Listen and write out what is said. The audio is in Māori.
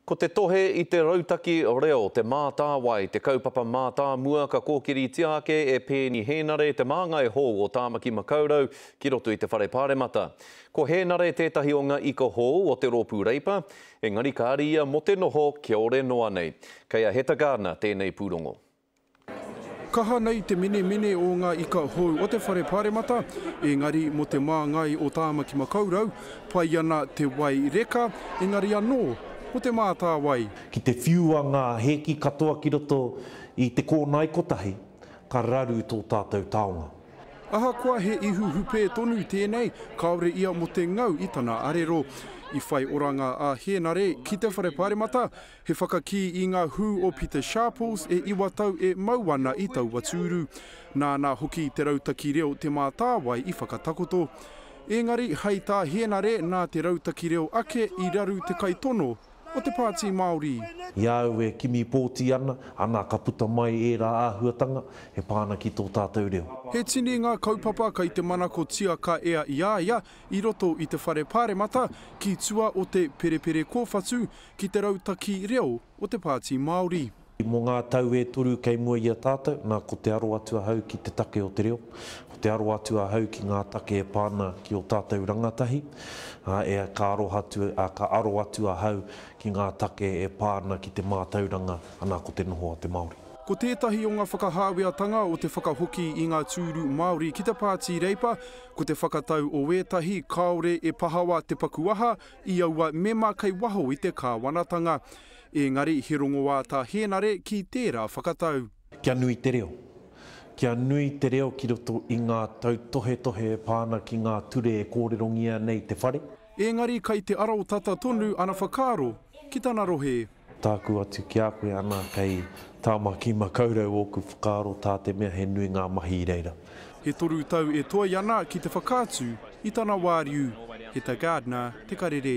Ko te tohe i te rautaki reo Te Mātāwai te kaupapa mātāmua ka kōkiritia ake e Peeni Hēnare te māngai hou o Tāmaki Makaurau ki roto i te Whare Pāremata. Ko Hēnare tētahi o ngā ika hou o te rōpū Reipa, engari kāre ia mō te noho kiore noa nei. Kei a Hetagarner tēnei pūrongo. Kaha nei te menemene o ngā ika hou o te Whare Pāremata, ēngari mō te māngai o Tāmaki Makaurau, pai ana te wai reka, engari anō, ko Te Mātāwai. Ki te whiua ngā hēki katoa ki roto i te kōnae kotahi, ka raru tō tātou taonga. Ahakoa he ihu hupē tonu tēnei, kāore ia mō te ngau i tana arero. I whai oranga a Hēnare ki te Whare Pāremata, He whakakī i ngā hū o Peter Sharples e iwa tau e mau ana i taua tūru. Nāna hoki te rautaki reo Te Mātāwai i whakatakoto. Ēngari, hei tā Hēnare, nā te rautaki reo ake i raru te kaitono o te Pāti Māori. I a au e kimi pōti ana, ana ka puta mai ērā āhuatanga e pā ana ki tō tātou reo. He tini ngā kaupapa kei te manakotia ka ea i a ia i roto i te Whare Pāremata ki tua o te Perepere Kōwhatu ki te rautaki reo o te Pāti Māori. Mō ngā tau e toru kei mua i a tātou, nā, ko te aro atu ahau ki te take o te reo, ko te aro atu ahau ki ngā take e pā ana ki ō tātou rangatahi, ā, e, ka aroha atu, ā, ka aro atu ahau ki ngā take e pā ana ki te mātauranga, anā, ko te noho a te Māori. Ko tētahi o ngā whakahāweatanga o te whakahoki i ngā tūru Māori ki te Pāti Reipa, ko te whakatau o ētahi kāore e pahawa te paku aha, i aua mema kei waho i te kāwanatanga, ēngari he rongoā tā Hēnare ki tērā whakatau. Kia nui te reo. Kia nui te reo ki roto i ngā tautohetohe e pā ana ki ngā ture e kōrerongia nei te whare. Ēngari kei te arotata tonu ana whakaaro ki tana rohe. Tāku atu ki a koe ana kei Tāmaki Makaurau ōku whakaaro tā te mea he nui ngā mahi i reira. E toru tau e toe ana ki te whakaatu i tana wāriu, he ta gardener te karere.